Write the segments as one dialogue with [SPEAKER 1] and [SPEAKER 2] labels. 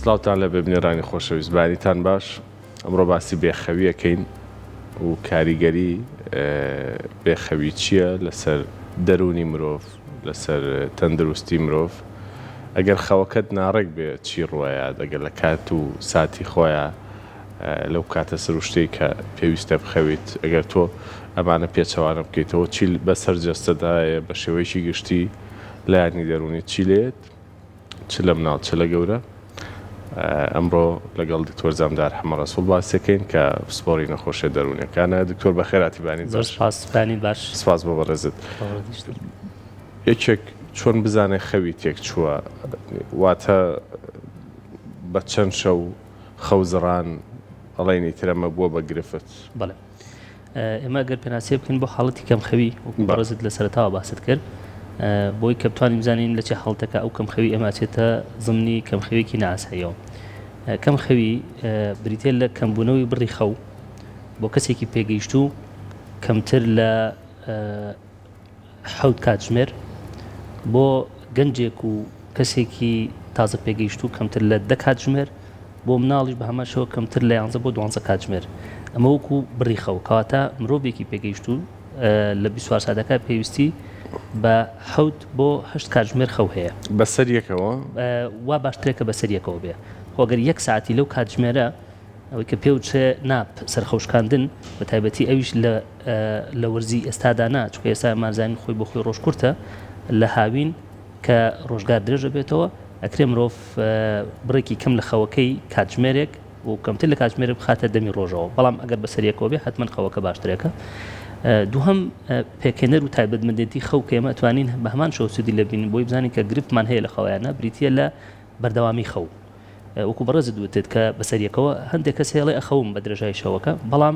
[SPEAKER 1] سڵاوتان لە ببنێرانی خۆشەویست بەیانیتان باش ئەمڕۆ باسی بێخەوی ئەکەین و کاریگەری بێخەوی چییە لەسەر دەروونی مرۆڤ لەسەر تەندروستی مرۆڤ ئەگەر خەوەکەت ناڕێک بێ چی ڕوایە دەگەر لە کات و ساتی خۆیا لەو کاتە سروشتەی کە پێویستە بخەویت ئەگەر تۆ ئەمانە پێچەوانە بکەیتەوە چی بەسەر جەستەدایە بە شێوەیەکی گشتی لایەنی دەروونی چی لێت چ لە مناڵ چ لە گەورە. ئەمڕۆ لەگەڵ دکتۆر زامدار حەمە ڕەسوڵ باس دەکەین کە پسپۆڕی نەخۆشیە دەروونیەکانە. دکتۆر بەخێر هاتی بانی زۆر باش. سپاس بانی باش.
[SPEAKER 2] سپاس بۆ بەڕێزت.
[SPEAKER 1] یەکێک چۆن بزانێ خەوی تێک چووە واتە بە چەند شەو خەو زڕان ئەڵێن ئیتر ئەمە بووە بە گرفت. بەڵێ.
[SPEAKER 2] ئێمە گەر پێناسەی بکەین بۆ حاڵەتی کەمخەوی وەکو بەڕێزت لە سەرەتاوە باست کرد بۆی کە بتوانین بزانین لە چێ حاڵەتەکە ئەو کەمخەوی ئێمە ئەچێتە ضمنی کەمخەوێکی نەئاساییەوە کەمخەوی بریتێ لە کەمبوونەوەی بڕی خەو بۆ کەسێکی پێگەیشتوو کەمتر لە حەوت کاتژمێر بۆ گەنجێک و کەسێکی تازە پێگەیشتوو کەمتر لە دە کاتژمێر بۆ مناڵیش بە هەمان شەوە کەمتر لە یانزە بۆ دوانزە کاتژمێر ئەمە وەکو بڕیخەوە کەواتە مرۆڤێکی پێگەیشتوو لە بیسوار سادەکە پێویستی بە حەوت بۆ هەشت کاتژمێر خەو هەیە بەسەر یەکەوە
[SPEAKER 1] وا باشترێکە
[SPEAKER 2] بەسەر یەکەوە بێ خۆگەر یەک ساعتی لەو کاتژمێرە ئەوەی کە پێو چێ نا سەرخەوشکاندن بە تایبەتی ئەویش لە لە وەرزی ئێستادا نا چکە ئێستا مازانین خۆی بۆ خۆی ڕۆژ کورتە لە هاوین کە ڕۆژگار درێژە بێتەوە ئەکرێ مرۆڤ بڕێکی کەم لە خەوەکەی کاتژمێرێک و کەمتر لە کاتژمێرە بخاتە دەمی ڕۆژەوە بەڵام ئەگەر بەسەریەکەوە بێ حتمما خەوەکە باشترێکە دووهم پێکێنەر و تایبەتمەندێتی خەو کە ئێمە توانین بە هەمان شەوسودی لە بین بۆی بزانین کە گرفتمان هەیە لە خەوایانە بریتە لە بەردەوامی خەو وەکو بەڕێزت وتت کە بەسەریەکەوە هەندێک کەس هەیەڵێ ئەخەوم بە درێژای شەوەکە بەڵام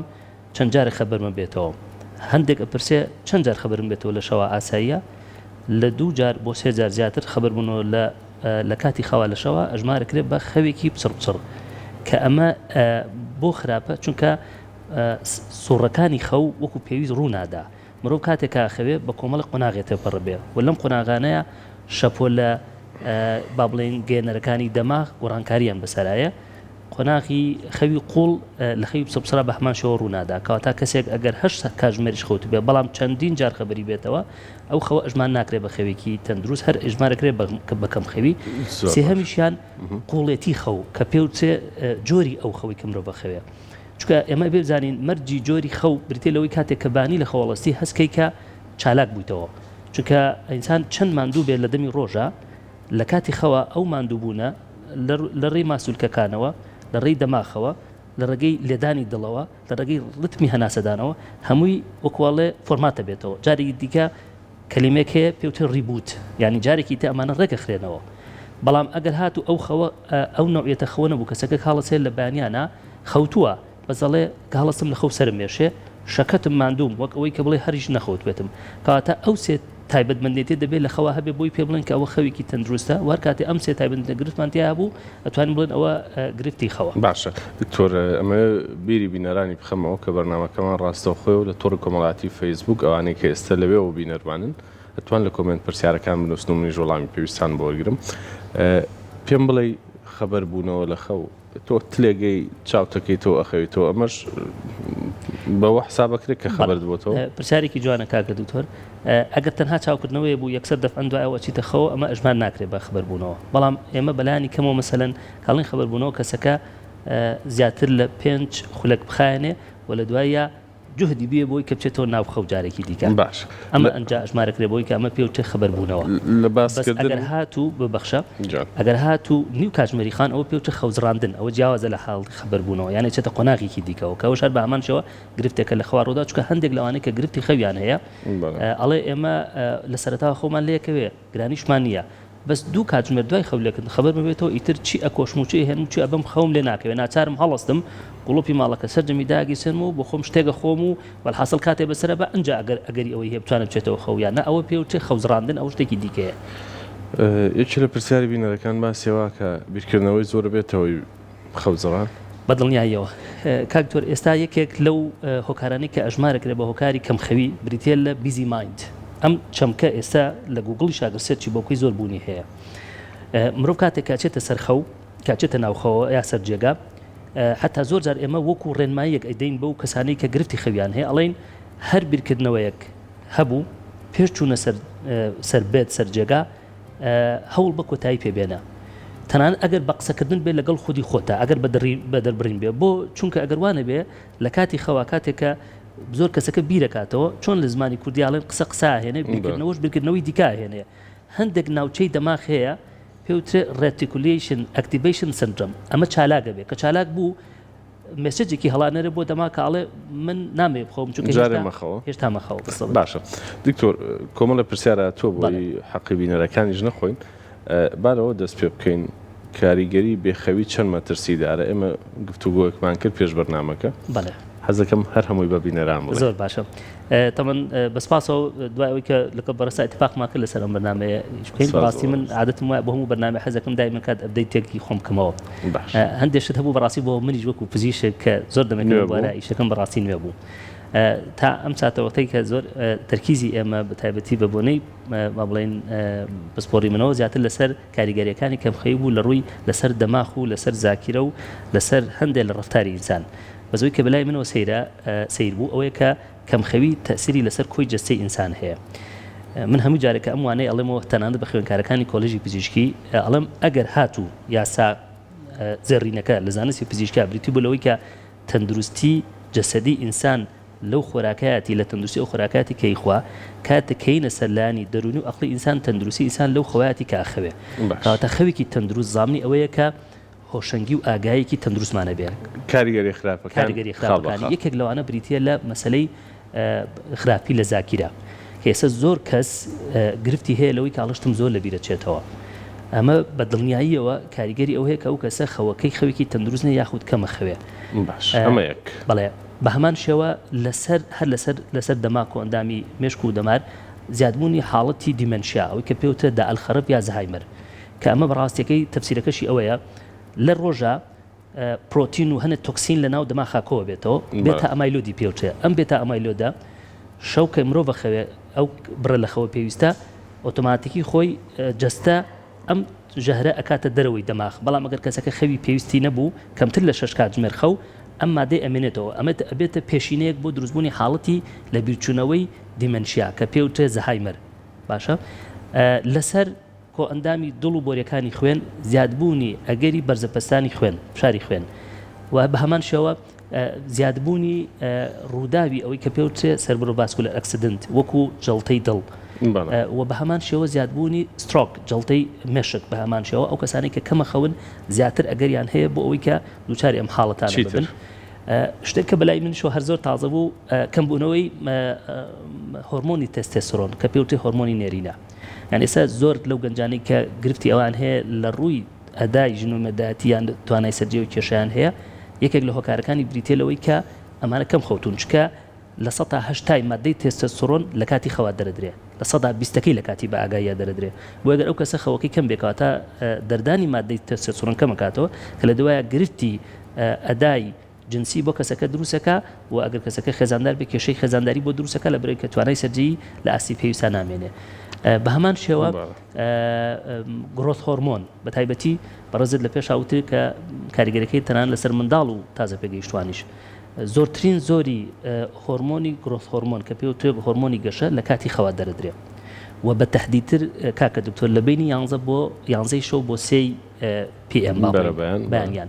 [SPEAKER 2] چەند جارێک خەبرمە بێتەوە هەندێک ئەپرسێ چەند جار خەبرم بێتەوە لە شەوا ئاساییە لە دوو جار بۆ سێ جار زیاتر خەبر بونەوە لە لە کاتی خەوا لە شەوا ئەژمار کرێ بە خەوێکی پچڕ پچڕ کە ئەمە بۆ خراپە چونکە سوڕەکانی خەو وەکو پێویست ڕوونادا مرۆڤ کاتێ کە ئەخەوێ بە کۆمەڵێک قۆناغێ تێپەڕبێ و لەم قۆناغانەیا شەپۆلە با بڵێین گەیەنەرەکانی دەماغ گۆڕانکاریان بەسەرایە قۆناغی خەوی قوڵ لە خەوی پسەپسرا بە هەمان شێوە ڕوونادا کەواتە کەسێک ئەگەر هەشت کاتژمێریش خەوتبێ بەڵام چەندین جار خەبەری بێتەوە ئەو خەوە ئەژمان ناکرێ بە خەوێکی تەندروست هەر ئەژمارەکرێ بە کەم خەوی سێهەمیشیان قوڵێتی خەو کە پێوچێ جۆری ئەو خەوی کە مرۆڤ بەخەوێ چونکە ئێمە ئەبێ بزانین مەرجی جۆری خەو بریتیە لەوەی کاتێک کە بانی لە خەوەڵەستی هەست کەی کە چالاک بویتەوە چونکە ئینسان چەند ماندوو بێت لە دەمی ڕۆژا لە کاتی خەوا ئەو ماندوو بوونە لە ڕێی ماسولکەکانەوە لە ڕێی دەماخەوە لە ڕێگەی لێدانی دڵەوە لە ڕێگەی ڕتمی هەناسەدانەوە هەمووی وەکوەڵێ فۆرماتە بێتەوە جارێکی دیکە کەلیمەیەک هەیە پێی وترێ ڕیبووت یانی جارێکی تر ئەمانە ڕێک ئەخرێنەوە بەڵام ئەگەر هاتوو ئەو خەوە ئەو نەوعیەتە خەوە نەبوو کەسەکە کاڵەس هەیە لە بەیانیانا خەوتووە بەس ئەڵێ کاڵەسم لە خەو سەرم مێشێ شەکەتم ماندووم وەک ئەوەی کە بڵێ هەریش نەخەوتبێتم کەواتە ئەو سێ تایبەتمەندێتیە دەبێت لە خەوا هەبێت بۆی پێ بڵێن کە ئەوە خەوێکی تەندروستە و هەر کاتێ ئەم سێ تایبەتمەندە گرفتمان تیا هەبوو ئەتوانین بڵێن ئەوە گرفتی خەوە. باشە دکتۆر
[SPEAKER 1] ئەمە بیری بینەرانی بخەمەوە کە بەرنامەکەمان ڕاستەوخۆی و لە تۆڕی کۆمەڵاتی فەیسبوک ئەوانەی کە ئێستا لەوێەوە بینەرمانن ئەتوان لە کۆمێنت پرسیارەکان بنووسن و منیش وەڵامی پێویستان بۆرگرم پێم بڵێ خەبەر بوونەوە لە خەو تۆ تلێگەی چاوتەکەی تۆ ئەخەویتەوە ئەمەش بەوە حسابەکرێت کە خەبەر بۆتەوە پرسیارێکی جوانە کاکە
[SPEAKER 2] دکتۆر ئەگەر تەنها چاوکردنەوەیە بوو یەکسەر دەفعەن دوای ئەو ئەچیتە خەوەوە ئەمە ئەژمار ناکرێت بە خبربوونەوە بەڵام ئێمە بەلانی کەمەوە مەسەلەن کەڵین خبربوونەوە کەسەکە زیاتر لە پێنج خولەک بخایەنێ و لە دواییا جوهدی بێ بۆی کە بچێتەوە ناو خەو جارێکی دیکە باش ئەمە ئەنجا ئەژمارەکرێ بۆی کە ئەمە پێوتێ خبربوونەوە لە باسکردن ئەگەر
[SPEAKER 1] هاتوو ببەخشە
[SPEAKER 2] ئەگەر هاتوو نیو کاتژمێری خان ئەوە پێوتێ خەوزڕاندن ئەوە جیاوازە لە حاڵی خبربوونەوە یانێ چێتە قۆناغێکی دیکەوە کە ئەوش هەر بە هەمان شێوە گرفتێکە لە خواروودا چونکە هەندێک لەوانەی کە گرفتی خەویان هەیە ئەڵێ ئێمە لە سەرەتاوە خەومان لەیەکەوێ گرانیشمان نییە بەس دوو کاتژمێر دوای خەو لێکردن خەبەر ببێتەوە ئیتر چی ئەکۆشم و چی ئەهێنم و چی ئەبەم خەوم لێ ناکەوێ ناچارم هەڵەستم گوڵوپی ماڵەکە سەرجەمی داگیرسێنم و بۆ خۆم شتێک ئەخۆم و وەلحاسڵ کاتێ بەسەرە بە ئەنجا ئەگەر ئەگەری ئەوەی هەیە بتوانم بچێتەوە خەو یان نە ئەوە پێ و چێ خەوزڕاندن ئەو شتێکی دیکەیە.
[SPEAKER 1] یەکێ لە پرسیاری بینەرەکان باسیەوە کە بیرکردنەوەی زۆر بێتەوەی خەوجڕان. بە دڵنیاییەوە کاک دکتۆر
[SPEAKER 2] ئێستا یەکێک لەو هۆکارانەی کە ئەژمار ئەکرێت بە هۆکاری کەمخەوی بریتیە لە بیزی مایند ئەم چەمکە ئێستا لە گووگڵیش ئاگر سێرچی بۆ بکەی زۆر بوونی هەیە مرۆڤ کاتێک کە ئەچێتە سەر خەو کە ئەچێتە ناو خەوەوە یا سەر جێگا حتا زۆر جار ئێمە وەکو ڕێنماییەک ئەیدەین بەو کەسانەی کە گرفتی خەویان هەیە ئەڵێین هەر بیرکردنەوەیەک هەبوو پێش چوونە سەر سەر بێت سەر جێگا هەوڵ بە کۆتایی پێ بێنە تەنانەت ئەگەر بە قسەکردن بێت لەگەڵ خودی خۆتا ئەگەر بە دەربڕین بێت بۆ چونکە ئەگەر وا نەبێت لە کاتی خەوا کاتێک کە زۆر کەسەکە بیرەکاتەوە چۆن لە زمانی کوردی ئەڵێن قسە قسە ئاهێنێ بیرکردنەوەش بیرکردنەوەی دیکە ئاهێنێ هەندێک ناوچەی دەماغ هەیە پێ وترێ Reticulation Activation Syndrome ئەمە چالاک ئەبێ کە چالاک بوو مێسێجێکی هەڵانەرە بۆ دەما کاڵێ من نامێ بخۆم هێشتا مەخەوە باشە دکتۆر
[SPEAKER 1] کۆمەڵە پرسیارە تۆ بۆی حەقی بینەرەکانی ژنە خۆین بارەوە دەست پێ بکەین کاریگەری بێخەوی چەند مەترسیدارە ئێمە گفتوگۆیەکمان کرد پێش بەرنمەکە حەزەکەم
[SPEAKER 2] هەر هەمووی
[SPEAKER 1] بە بینەران زۆر باشە
[SPEAKER 2] تەمەن بە سپاسەوە دوای ئەوی کە لەکە بەڕستا اتفاقمان کرد لەسەر ئەم بەنامەیە بکەین ڕاستی من عادەتم وایە بۆ هەموو بەنامە حەزەکەم دایمە کات ئەبدەی تێکی خۆم بکەمەوە هەندێک شت هەبوو بەڕاستی بۆ منیش وەکو پزیشک کە زۆر دەمێک وارە ئیشەکەم بەڕاستی نوێ بوو تا ئەم ساتەوەتەی کە زۆر تەرکیزی ئێمە بە تایبەتی بە بۆنەی با بڵێن پسپۆری منەوە زیاتر لەسەر کاریگەریەکانی کەمخەوی بوو لەڕووی لەسەر دەماخ و لەسەر زاکیرە و لەسەر هەندێ لە ڕەفتاری ئینسان بەس ئەوەی کە بەلای منەوە سەیرە سەیر بوو ئەوەیە کە کەمخەوی تەئسیری لەسەر کۆی جەستەی ئینسان هەیە من هەموو جارێک کە ئەم وانەی ئەڵێم و تەنانەت بە خوێنکارەکانی کۆلێژی پزیشکی ئەڵێم ئەگەر هاتوو یاسا زێڕینەکە لە زانستی پزیشکا بریتی بوو لەوەی کە تەندروستی جەسەدی ئینسان لەو خۆراکایەتی لە تەندروستی ئەو خۆراکایەتی کە ئیخوا کاتێک کە یینە سەر لانی دەرونی و ئەقڵی ئینسان تەندروستی ئینسان لەو خەوایەتی کە ئەخەوێ باش. کەواتە خەوێکی تەندروست زامنی ئەوەیە کە هۆشەنگی و ئاگایەکی تەندروستمان ئەبێ کاریگەری خراپەکان
[SPEAKER 1] کاریگەری خاڵ بە
[SPEAKER 2] خراپەکانی خاڵ. یەکێک لەوانە بریتیە لە مەسەلەی ئە خراپی لە زاکیرە کە ئێستا زۆر کەس ئە گرفتی هەیە لەوەی کە ئەڵێ شتم زۆر لە بیرە چێتەوە ئەمە بە دڵنیاییەوە کاریگەری ئەوە هەیە کە ئەو کەسە خەوەکەی خەوێکی تەندروست نیە یاخود کەم ئەخەوێ باش ئە ئەمە یەک. بەڵێ. بە هەمان شێوە لەسەر هەر لەسەر لەسەر دەماک و ئەندامی مێشک و دەمار زیادبوونی حاڵەتی دیمەنشیا ئەوەی کە پێوترە دە ئەلخەرف یا زەهایمەر کە ئەمە بەڕاستیەکەی تەفسیرەکەشی ئەوەیە لە ڕۆژا پرۆتین و هەنێ تۆکسین لە ناو دەماخا کۆوە بێتەوە بێتە ئەمایلۆدی پێوترێ ئەم بێتە ئەمایلۆدە شەو کە مرۆڤ خەوێ ئەو بڕە لە خەوە پێویستە ئۆتۆماتیکی خۆی جەستە ئەم ژەهرە ئەکاتە دەرەوەی دەماغ، بەڵام ئەگەر کەسەکە خەوی پێویستی نەبوو، کەمتر لە شەش کاتژمێر خەو، ئەم مادەی ئەمێنێتەوە، ئەمە ئەبێتە پێشینەیەک بۆ دروستبوونی حاڵەتی لەبیرچوونەوەی دیمەنشیا کە پێوترێت زەهایمەر. باشە لەسەر کۆئەندامی دڵ و بۆریەکانی خوێن، زیادبوونی ئەگەری بەرزەپەستانی خوێن، فشاری خوێن، و بەهەمان شێوە. زیادبوونی ڕووداوی ئەوەی کە پێوترێ سێربرۆڤاسکولەر ئەکسیدنت وەکوو جەڵتەی دڵ و بە هەمان شێوە زیادبوونی سترۆک جەڵتەی مێشک بە هەمان شێوە ئەو کەسانەی کە کەمە خەون زیاتر ئەگەریان هەیە بۆ ئەوەی کە دووچاری ئەم حاڵەتانە ببن. شتێک کە بەلای من شۆ هەر زۆر تازە بوو کەم بوونەوەی هۆرمۆنی تێستێستۆرۆن کە پێوترێ هۆرمۆنی نێرینە یان ئێستا زۆر لەو گەنجانەی کە گرفتی ئەوان هەیە لە ڕووی ئەدای ژن و مێردایەتی یان توانای سەرجێ و کێشیان هەیە یەکێک لە هۆکارەکانی بریتیە لەوەی کە ئەمانە کەم خەوتوون چکە لە سەتا هەشتای مادەی تێستەستۆرۆن لە کاتی خەوا دەردرێ لە سەدا بیستەکەی لە کاتی بە ئاگاییا دەردرێ بۆ گەر ئەو کەسە خەوەکەی کەم بێ کەواتە دەردانی مادەی تێستەستۆرۆن کەمەکاتەوە کە لە دوایە گرفتی ئەدای جنسی بۆ کەسەکە دروستەکە و ئەگەر کەسەکە خێزاندار بێت کێشەی خێزانداری بۆ دروستەکە لە برۆی کە توانای سەرجێی لە ئاستی پێویستان نامێنێ بە هەمان شێوە گرۆس هۆرمۆن بە تایبەتی بەڕێزت لە پێش هاوتر کە کاریگەرەکەی تەنان لەسەر منداڵ و تازە پێگەیشتوانیش زۆرترین زۆری هۆرمۆنی گرۆس هۆرمۆن کە پێ و توێک هۆرمۆنی گەشە لە کاتی خەوا دەردرێ و بە تهدیتر کاکە دکتۆر لە بینی یانزە بۆ یانزەی شەو بۆ سێی پی ئێم بەیان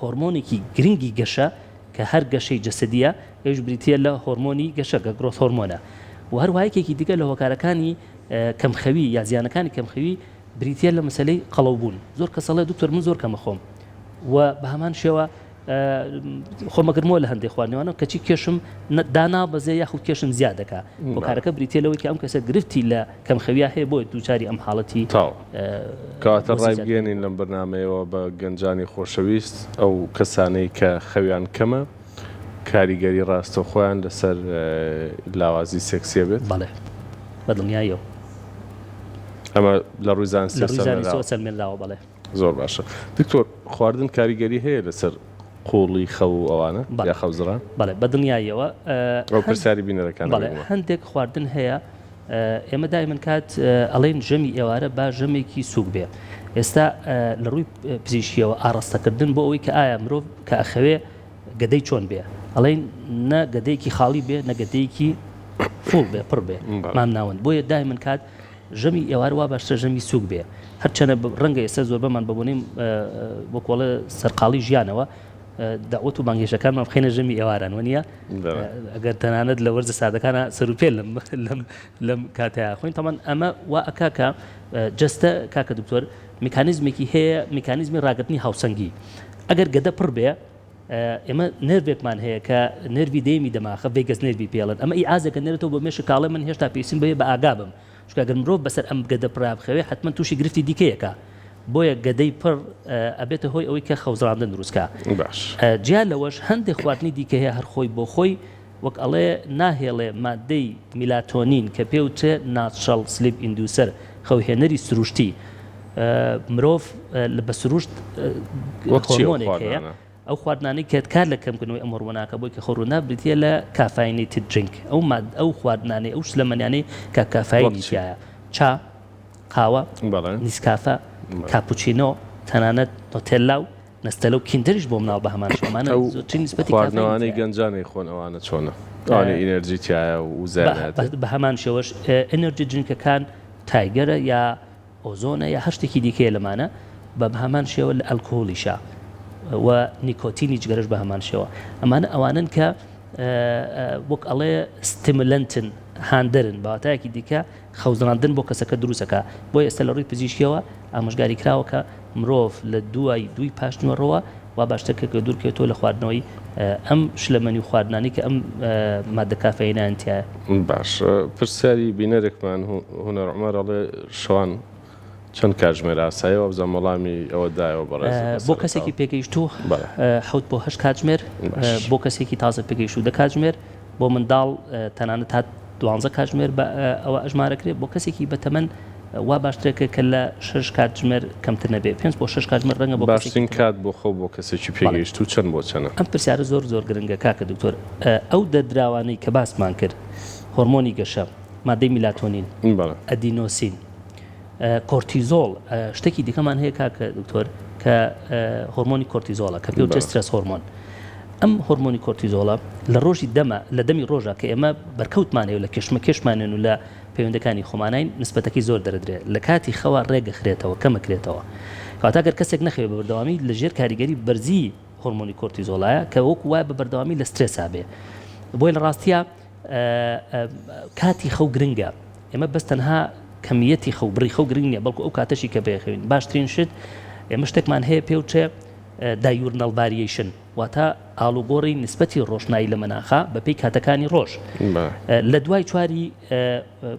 [SPEAKER 2] هۆرمۆنێکی گرنگی گەشە کە هەر گەشەی جەسەدییە، ئەویش بریتییە لە هۆرمۆنی گەشە کە گرۆث هۆرمۆنە و هەروەها یەکێکی دیکە لە هۆکارەکانی کەمخەوی یا زیانەکانی کەمخەوی بریتییە لە مەسەلەی قەڵەو بوون، زۆر کەس ئەڵێ دکتۆر من زۆر کەم ئەخۆم و بە هەمان شێوە خۆم ئەگرمەوە لە هەندێک خواردنەوانەوە کەچی کێشم دانابەزێ یاخود کێشم زیاد دەکا، هۆکارەکە بریتییە لەوەی کە ئەم کەسە گرفتی لە کەم خەویا هەیە بۆیە دووچاری ئەم حاڵەتی تاو. کەواتە
[SPEAKER 1] بۆ زیجات ڕایبگەیەنین کردنەوە. لەم بەرنامەیەوە بە گەنجانی خۆشەویست ئەو کەسانەی کە خەویان کەمە کاریگەری ڕاستەوخۆیان لەسەر لاوازی سێکسی ئەبێت؟ بەڵێ
[SPEAKER 2] بە
[SPEAKER 1] دڵنیاییەوە. ئەمە لە ڕووی زانستی لە ڕووی زانستیەوە سەلمێنراوە. سەلمێنراوە
[SPEAKER 2] بەڵێ. زۆر باشە
[SPEAKER 1] دکتۆر خواردن کاریگەری هەیە لەسەر قوڵی خەو و ئەوانە یا خەوزڕان؟ بەڵێ بە دڵنیاییەوە
[SPEAKER 2] ئەو پرسیاری
[SPEAKER 1] بینەرەکان بەڵێ ئەبێت. هەندێک
[SPEAKER 2] خواردن هەیە ئێمە دایمەن کات ئەڵێن ژەمی ئێوارە با ژەمێکی سووک بێ ئێستا لە ڕووی پزیشکیەوە ئاڕاستەکردن بۆ ئەوەی کە ئایا مرۆڤ کە ئەخەوێ گەدەی چۆن بێ ئەڵێن نە گەدەیەکی خاڵی بێ نە گەدەیەکی فوڵ بێ پڕ بێ مامناوەند بۆیە دایمەن کات ژەمی ئێوارە وا باشترە ژەمی سووک بێ، هەرچەنە ڕەنگە ئێستا زۆربەمان بە بۆنەی وەکوو ئەڵێ سەرقاڵی ژیانەوە دەعوەت و بانگهێشتەکانمان بخەینە ژەمی ئێواران وەنییە؟ ئەگەر تەنانەت لە وەرزە ساردەکانا سەروپێ لەم لەم لەم کاتەیا خۆین تەمان ئەمە وا ئەکا کە جەستە کاکە دکتۆر میکانیزمێکی هەیە میکانیزمی ڕاگرتنی هاوسەنگی ئەگەر گەدە پڕ بێ ئێمە نێرڤێکمان هەیە کە نێرڤی دەیەمی دەماخە، ڤەیگەس نێرڤ ی پێڵێن، ئەمە ئی ئازێکە دەنێرێتەوە بۆ مێشک کاڵێ من هێشتا پێویستیم بەوەیە بە ئاگا بم، چونکە گەر مرۆڤ بەسەر ئەم گەدە پڕەیا بخەوێ حەتمەن تووشی گرفتی دیکەیەکە، بۆیە گەدەی پڕ ئەبێتە هۆی ئەوەی کە خەوزڕاندن دروست کا. جیا لەوەش هەندێ خواردنی دیکە هەیە هەر خۆی بۆ خۆی وەک ئەڵێ ناهێڵێ ماددەی میلاتۆنین کە پێ وترێ ناتشەڵ سلیپ ئیندوسەر، خەوهێنەری سروشتی، مرۆڤ بە سروشت هۆرمۆنێک هەیە ئەو خواردنانەی کە کار لە کەم کردنەوەی ئەم هۆرمۆنە ئەکا بۆی کە خۆ ڕوونا بریتیە لە کافاینیتد درینک ئەو ماد ئەو خواردنانەی ئەو شلەمەنیانەی کە کافاینی تیایە چا، قاوە، نیسکافە، کاپوچینۆ، تەنانەت نۆتێلا و نەستەلە و کیندەریش بۆ مناڵ بەهەمان شێوە ئەمانە ئەو زۆرترین نسبەتی کافەین خواردنەوانەی تیایە. گەنجان
[SPEAKER 1] ئەیخۆن ئەوانە چۆنە؟ ئەوانەی ئینێرجی تیایە و بە وزەیانەت بە بەهەمان شێوەش
[SPEAKER 2] ئێنێرجی درینکەکان تایگەرە یا ئۆزۆنە یا هەر شتێکی دیکەیە لەمانە بە بەهەمان شێوە لە ئەلکهولیشە و نیکۆتینی جگەرەش بەهەمان شێوە ئەمانە ئەوانەن کە وەک ئەڵێ ستیمولەنتن هاندەرن بە واتایەکی دیکە خەوزڕاندن بۆ کەسەکە دروستەکا بۆیە ئێستا لەڕووی پزیشکیەوە ئامۆژگاری کراوە کە مرۆڤ لە دوای دووی پاشنیوەڕۆوە واباشترە کە دوورکەوێتەوە لە خواردنەوەی ئەم شلەمەنی و خواردنانەی کە ئەم ماددە کافەیینەیان تیایە. باشە
[SPEAKER 1] پرسیاری بینەرێکمان هونەر عومەر ئەڵێ شوان چەند کاتژمێر ئاسایە وابزانم وەڵامی ئەوە دایەوە بەڕێزت بەسەرەتاوە. بۆ کەسێکی پێگەیشتوو
[SPEAKER 2] حەوت بۆ هەشت کاتژمێر بۆ کەسێکی تازە پێگەیشتوو دە کاتژمێر بۆ منداڵ تەنانەت تا دوانزە کاتژمێر بە ئەوە ئەژمارەکرێ بۆ کەسێکی بە تەمەن وا باشترە کە کە لە شەش کاتژمێر کەمتر نەبێ پێنج بۆ شەش کاتژمێر ڕەنگە بۆ کەسێکی باشترین کات بۆ خەو بۆ
[SPEAKER 1] کەسێکی پێگەیشتوو چەند بۆ چەنە؟ ئەم پرسیارە زۆر زۆر
[SPEAKER 2] گرنگە کاکە دکتۆر ئەو دەردراوانەی کە باسمان کرد هۆرمۆنی گەشە مادەی میلاتۆنین ئەدینۆسین. کۆرتیزۆڵ شتێکی دیکەمان هەیە کاکە دکتۆر کە هۆرمۆنی کۆرتیزۆڵە کە پێ تێسترس هۆرمۆن ئەم هۆرمۆنی کۆرتیزۆڵە لە ڕۆژی دەمە لە دەمی ڕۆژە کە ئێمە بەرکەوتمانێ و لە کێشمە کێشمانێن و لە پەیوەندەکانی خۆمانین نسبەتەکەی زۆر دەردرێت لە کاتی خەوە ڕێگەخرێتەوە کەمەکرێتەوە کاتاگەر کەسێک نەخەوێ بە بەردەوامی لە ژێر کاریگەری بەرزی هۆرمۆنی کۆرتیزۆڵایە کە وەک وای بە بەردەوامی لە سترێسا بێ بۆی لە ڕاستە کاتی خەو گرنگە ئێمە بەس تەنها کەمیەتی خەو بڕی خەو گرنگ نیە بەڵکو ئەو کاتەشی کە بەیەخەوین باشترین شت ئێمە شتێکمان هەیە پێ و چێ دایورنەڵ ڤاریەیشن واتە ئاڵوگۆڕی نسبەتی ڕۆشنایی لە مەناخا بەپی کاتەکانی ڕۆژ لە دوای چواری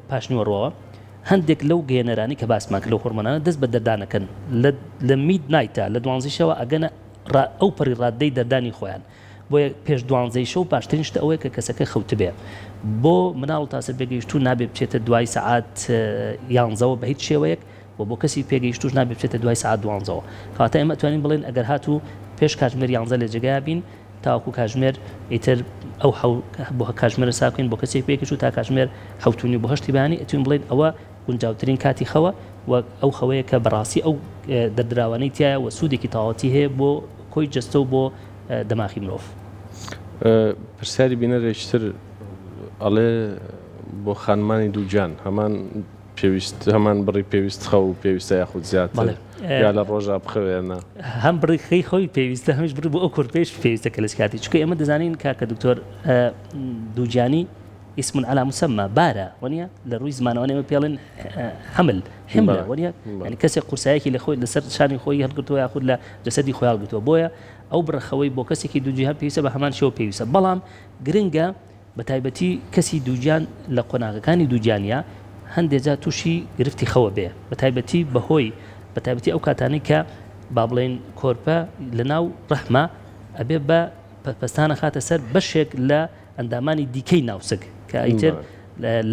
[SPEAKER 2] پاشنیوەڕەوە هەندێک لەو گەێنەرانی کە باسماک لەو هۆرمۆنانە دەست بە دەردانەکەن لە مید نایتە لە دوانزیشەوە ئەگەنە ئەو پەڕی ڕاددەی دەردانی خۆیان بۆیە پێش دوانزەی شەو باشترین شت ئەوەیە کە کەسەکە خەوتبێ. بۆ مناڵ و تاسە پێگەیشتوو نابێ بچێتە دوای سەعات یانزەوە بە هیچ شێوەیەک و بۆ کەسی پێگەیشتووش نابێ بچێتە دوای سەعات دوانزەوە. کەواتە ئێمە ئەتوانین بڵێین ئەگەر هاتوو پێش کاتژمێر یانزە لە جێگایا بین تاوەکوو کاتژمێر ئیتر ئەو حەو بۆ کاتژمێرە ساف بکەین بۆ کەسی پێگەیشتوو تا کاتژمێر حەوت و نیو بۆ هەشتی بەیانی ئەتوین بڵێین ئەوە گونجاوترین کاتی خەوە و ئەو خەوەیە کە بەڕاستی ئەو دەردراوانەی تیایە و سوودێکی تەواوەتی هەیە بۆ کۆی جەستە و بۆ دەماخی مرۆڤ.
[SPEAKER 1] پرسیاری بینەرێکی تر ئەڵێ بۆ خانمانی دووگیان هەمان پێویست هەمان بڕی پێویست خەو پێویستە یاخود زیاتر یا لە ڕۆژا بخەوێنە هەم بڕی خەی
[SPEAKER 2] خۆی پێویستە هەمیش بڕی بۆ ئەو کورپێش پێویستە کە لەس کاتی چکە ئێمە دەزانین کاکە دکتۆر دووجانی اسم على مسمى بارە وەنیە لە ڕووی زمانەوە ئێمە پێڵێن حمل حملە وەنیە ینی کەسێک قورسایەکی لە خۆی لەسەر شانی خۆی هەڵگرتووە یاخود لە جەسەدی خۆی هەڵگرتووە بۆیە ئەو بڕەخەوەی بۆ کەسێکی دووگیان پێویستە بە هەمان شێوە پێویستە بەڵام گرنگە بەتایبەتی کەسی دووگیان لە قۆناغەکانی دووگیانیا هەندێک جار تووشی گرفتی خەوە بێ بەتایبەتی بەهۆی بەتایبەتی ئەو کاتانەی کە با بڵێین کۆرپە لەناو ڕەحمە ئەبێ بە پەستانە خاتە سەر بەشێک لە ئەندامانی دیکەی ناوسک کە ئیتر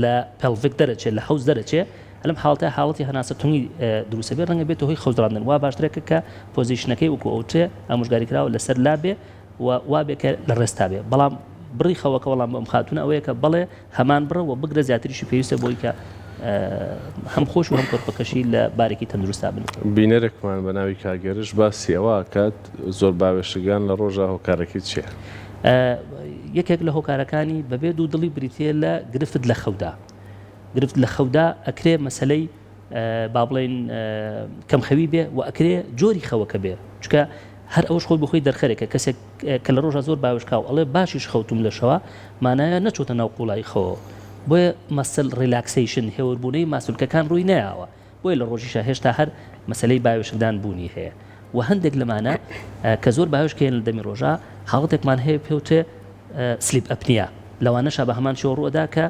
[SPEAKER 2] لە پێڵڤک دەرەچێت لە حوز دەرەچێ لەم حاڵتە حاڵەتی هەناسە تونی دروسە بێ ڕەنگە بێتە هۆی خەوزراندن وا باشترەکە کە پۆزیشنەکەی وکو ئەوتێ ئامژگاری کراوە لەسەر لابێ و وابێ کە لە ڕێستا بێ بەڵام بڕی خەوەکە وەڵام بەم خاتونە ئەوەیە کە بەڵێ هەمان بڕە و بگرە زیاتریشی پێویستە بۆی کە هەم خۆش و هەم کۆرپەکەشی لە بارێکی تەندروستا بن بینەرێکمان بە ناوی
[SPEAKER 1] کاگەرش باسی ئەوە کات زۆر باوێشکگان لە ڕۆژا هۆکارەکەی چیە؟
[SPEAKER 2] یەکێک لە هۆکارەکانی بەبێ دوو دڵی بریتیە لە گرفت لە خەودا گرفت لە خەودا ئەکرێ مەسەلەی با بڵێین کەم خەوی بێ و ئەکرێ جۆری خەوەکە بێ چکە هەر ئەوش خۆی بخۆی دەرخەرێکە کەسێک کە لە ڕۆژە زۆر باوشکاو ئەڵێ باشیش خەوتم لە شەوا مانایە نەچۆتە ناو قوڵایی خەوە بۆیە مەسل ڕیلاکسیشن هێوربوونەی ماسولکەکان ڕووی نەیاوە بۆیە لە ڕۆژیشا هێشتا هەر مەسەلەی باوێشکدان بوونی هەیە و هەندێک لەمانە کە زۆر باوێشک هەیە لە دەمی ڕۆژا حاڵەتێکمان هەیە پێوترێ سلیپ ئەپنیا لەوانەشە بە هەمان شێوە ڕووەدا کە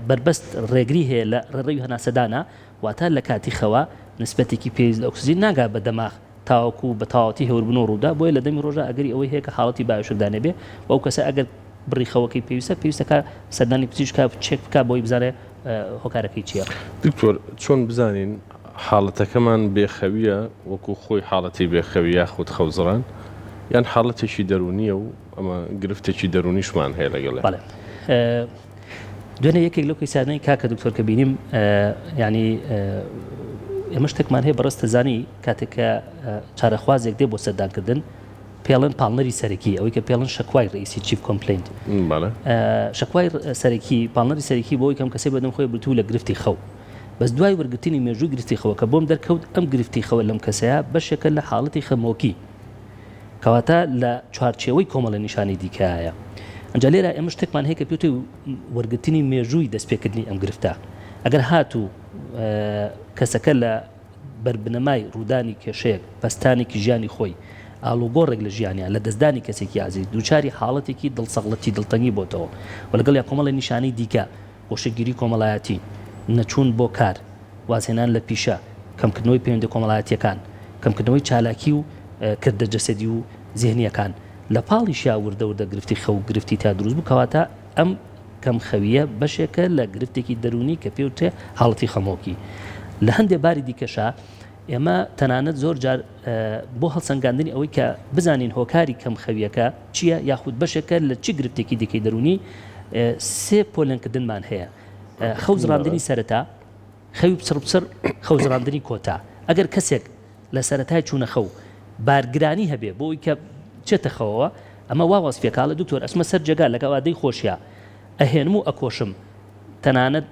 [SPEAKER 2] بەربەست ڕێگری هەیە لە ڕێڕەوی هەناسەدانا واتە لە کاتی خەوا نسبەتێکی پێویست لە ئۆکسجین ناگا بە دەماغ تاوەکو بە تەواوەتی هێوربن و ڕوودا، بۆیە لە دەمی ڕۆژدا ئەگەری ئەوەی هەیە کە حاڵەتی بایۆشکدا نەبێ و ئەو کەسە ئەگەر بڕی خەوەکەی پێویستە، پێویستە کە سەردانی پزیشکە چێک بکا بۆی بزانێ هۆکارەکەی چییە. دکتۆر چۆن
[SPEAKER 1] بزانین حاڵەتەکەمان بێ خەوییە وەکو خۆی حاڵەتی بێ خەوی یاخود خەوزڕان یان حاڵەتێکی دەروونییە و ئەمە گرفتێکی دەروونیشمان هەیە لەگەڵێ؟ بەڵێ.
[SPEAKER 2] دوێنێ یەکێک لەو کەیسانەی کاکە دکتۆر کە بینیم ینی ئێمە شتێکمان هەیە بەڕست زانی کاتێک کە چارەخوازێک دێ بۆ سەردانکردن پێڵن پاڵنەری سەرەکی ئەوەی کە پێڵن شکوای ڕئیسی چیف کۆمپلینت شکوای سەرەکی پاڵنەری سەرەکی بۆی کەم کەسی بەدەم خۆی برتو لە گرفتی خەو بەس دوای وەرگرتنی مێژووی گرفتی خەوە کە بۆم دەرکەوت ئەم گرفتی خەوە لەم کەسەیە بەشێکە لە حاڵەتی خەمۆکی کەواتە لە چوارچێوەی کۆمەڵە نیشانی دیکەیە. ئەنجا لێرا ئێمە شتێکمان هەیە کە پێوتێ وەرگرتنی مێژووی دەستپێکردنی ئەم گرفتە. ئەگەر هاتوو کەسەکە لە بەر بنەمای ڕوودانی کێشەیەک، پەستانێکی ژیانی خۆی، ئاڵوگۆڕێک لە ژیانیا، لە دەستدانی کەسێکی ئازیز، دووچاری حاڵەتێکی دڵسەغڵەتی، دڵتەنگی بۆتەوە و لەگەڵیا کۆمەڵە نیشانەی دیکە گۆشەگیری کۆمەڵایەتی، نەچوون بۆ کار، وازهێنان لە پیشە، کەمکردنەوەی پەیوەندییە کۆمەڵایەتییەکان، کەمکردنەوەی چالاکی و کردە جەسەدی و زهنییەکان، لە پاڵیشییا وردە وردە گرفتی خەو و گرفتی تیا دروست بوو، کەواتە ئەم کەم خەوییە بەشێکە لە گرفتێکی دەروونی کە پێوترێ حاڵەتی خەمۆکی، لە هەندێ باری دیکەشا ئێمە تەنانەت زۆر جار بۆ هەڵسەنگاندنی ئەوەی کە بزانین هۆکاری کەم خەویەکە چییە یاخود بەشێکە لە چی گرفتێکی دیکەی دەرونی سێ پۆلێنکردنمان هەیە خەوزڕاندنی سەرەتا خەوی پچڕ پچڕ خەوزڕاندنی کۆتا ئەگەر کەسێک لە سەرەتای چوونە خەو بارگرانی هەبێ بۆی کە چێتە خەوەوە ئەمە وا وەسفێکاڵە دکتۆر ئەچمە سەر جێگا لەگەڵ ئادەی خۆشیە ئەهێنم و ئەکۆشم تەنانەت